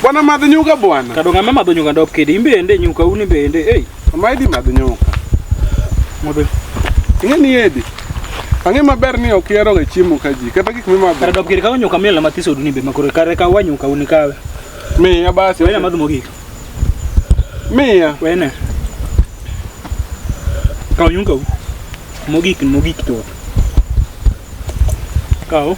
Bwana madh nyuka bwana. Kado ng'ama madho nyuka ndop kidi imbende nyuka uni bende. Hey. Ama idi madh nyuka. Modho. Ing'e ni edi. Ang'e maber ni ok yero ga chiemo ka ji kata gik mimadho. Kado ndop kidi kawo nyuka mila mathiso duni be makoro kare ka wa nyuka uni kawe. Miya basi. Wena madh mogik. Miya. Wena. Kawo nyuka u. Mogik mogik to. Kawo.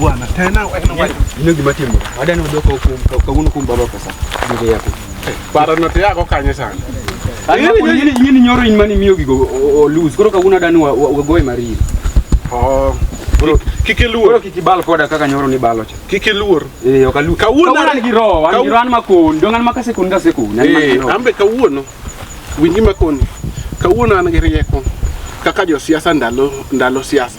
Bwana tena wewe ndio kimatimo. Hadi ni ndio kwa kwa nguvu kumbaba pesa. Ndio yako. Para note yako kanye sana. Yini yini nyoro in mani miyo gigo o lose. Koro kaguna dani wa wa goy mari. Oh. Bro, kiki luor. Bro, kiki bal koda kaka nyoro ni balo cha. Kiki luor. Eh, okalu. Kawuna ni giro, an giro an makon, dongan makase kun kase kun. Eh, ambe kawuono. Winji makon. Kawuono an gi rieko. Kaka jo siasa ndalo ndalo siasa.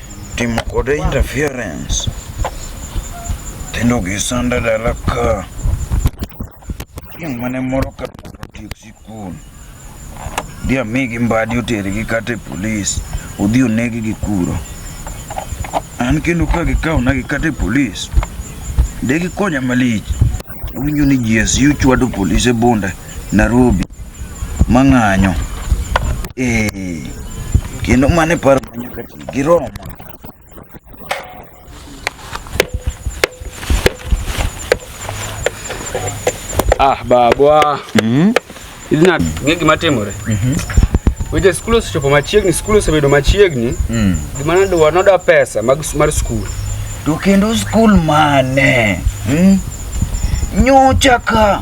timo kode interference tendo gi sanda dala ka chieng' mane moro ka otiek sikul dhi amigi mbadi otergi kata e polis odhi onegi gi kuro an kendo ka gikawona gi kata e polis de gikonya malich awinjo ni GSU chwado polis e bunda Nairobi mang'anyo ee kendo mane paro manyaka ti gi Roma Ah, babwa. Mhm. Hizi na ng'e gima timore. Mhm. Weche skul osechopo machiegni, skul osebedo machiegni. Mhm. Gima nadwa noda pesa mag mar skul. To kendo skul mane? Mhm. Nyocha ka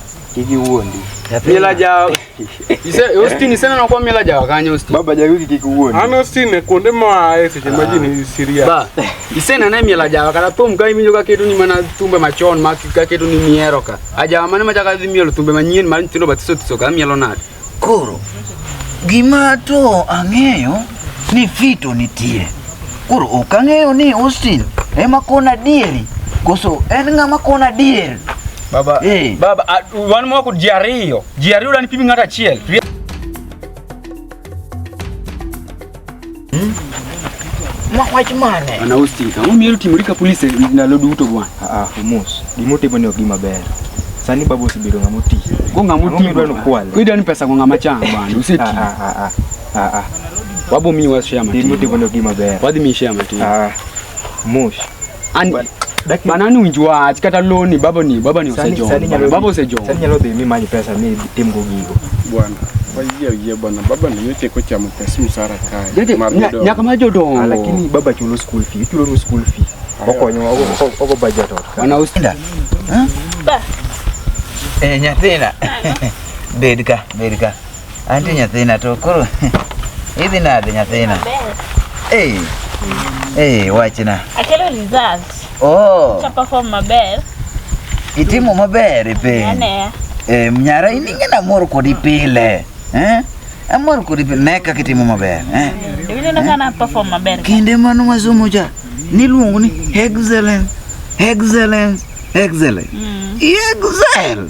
Kiki uondi. Mila ja. Ise Austin sana na kwa mila ja wakanya Austin. Baba ja wiki kiki uondi. Ana Austin kuonde mwa ese ah. maji ni Syria. Ba. Ise na na mila ja wakana pom kai minyo ka ketu ni mana tumbe machon ma ka ketu ni mieroka. Aja mana ma ja ka milo tumbe manyin ma ntino batiso tisoka milo nadi. Koro gima to ang'eyo ni fito nitie. Koro ok ang'eyo ni Austin ema kona adieri koso en ng'ama kona adier. Baba, hey. Eh. baba, uh, wan moko ji ariyo, ji ariyo dani pimi ng'ato achiel. Hmm? Mwach mane? Ana hosting. Ang'o miyo timorika police ndalo duto bwana? Ah, ah mos. Gimo timo ni ok gima ber. Sani babu osebedo ng'ama oti. Go ng'ama oti. Ng'ama dwano kwale. Ko idwani pesa go ng'ama chang bwana. Useti. Ah ah ah. Ah ah. ah. Wabo mi wa share matin. Gimo timo ni ok gima ber. Wadhi mi share matin. Ah. Mos. An Daki- bana ni winj wach kata loni baba ni baba ni Sani- osejomo. sani nyalo- Baba osejomo. Sani nyalo dhi mi manyo pesa mi tim go gigo. Bwana, wayie oyie bwana, baba ni yote kochamo pesa msara kae. Jete Mar nya- jodongo. nyaka ma Ah, jodongo. Lakini baba chulo school fee, ichulo nu school fee. Okonyo ogo- ogo budget ot. Bana usi. Eh, nyathina. Bed ka, bed ka. Anti nyathina to koro idhi nade nyathina? Eh. Eh, wachna. Akelo results. Oh. Cha perform maber. Itimo maber e piny. Ane. Eh, mnyara in ing'ena mor kodi pile. Eh? Amor kodi pile ne kaka itimo maber. Eh? Dibile na kana perform maber. Kinde mano masomo cha niluongo ni excellence, excellence, excellence. Mm. Excel.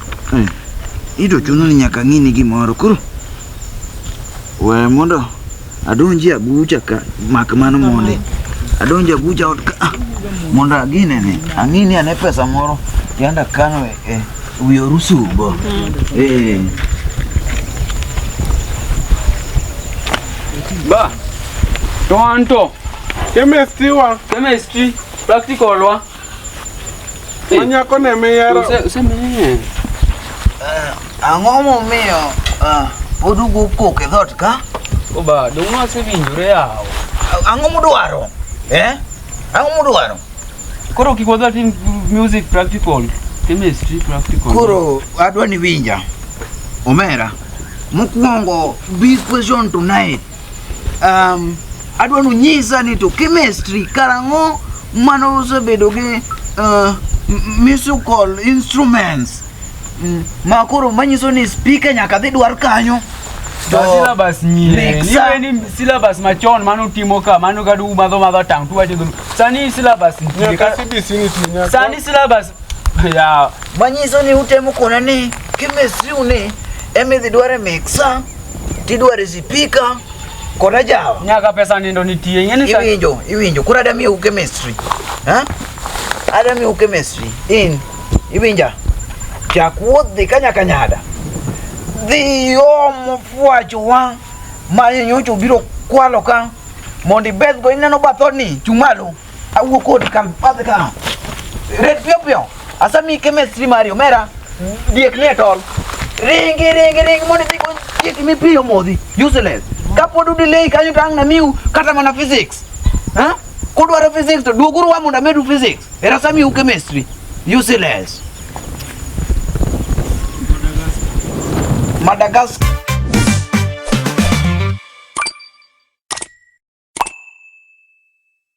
Hmm. Ido chuno ni nyaka ng'ini gimoro koro we mondo adonji agucha ka mak mano mondi adonji agucha ot ka ah, mondo agine ni ang'ini ane pesa moro yanda kano e, e wi orusubo hmm. eh. ba to anto chemistry wa chemistry practical wa Manyako ne miyero. Usemeye. Ang'o momiyo ah, pod ugo kok e dhot ka? Oba, dong' wasewinjore yawo. Ang'o mudwaro? Eh? Ang'o mudwaro? Koro kik wadhi atim music practical, chemistry practical. Koro adwa ni winja. Omera. Mokwongo big question tonight. Um, adwa ni unyisa ni to chemistry karang'o mane usebedo gi uh, musical instruments mm, ma koro manyiso ni speaker nyaka dhi dwar kanyo To syllabus nyie Next ni time. weni syllabus machon mano timo ka mano kadu umadho madho tang tu wacho dhulu sani syllabus nitie Nyaka ka- CBC nitie nyaka. sani syllabus ya manyiso ni utemo kona ni chemistry ni emidhi dware mixa Tidware zipika kona jawa. Nyaka pesa nindo nitie. Ng'eni sa. Iwinjo, iwinjo. Kura dami u chemistry. Ha? Adami u chemistry. In. Iwinja. Chakuot dhi kanya kanyada. Dhi omo fwacho wa. Manyo nyocho biro kwalo ka. Mondi beth go ineno bathoni. Chumalo. Awuo kod kan padh ka. Red piyo piyo. Asa mi chemistry mari omera. Diek ne tol. Ringi ringi ringi mondo idhi kony diek mi piyo modhi. Useless. Kapod udelay kanyo to ang' namiu kata mana physics. Ha? Kudwaro physics to duoguru wa mondo amedu physics. Era sami u chemistry. Useless. Madagascar.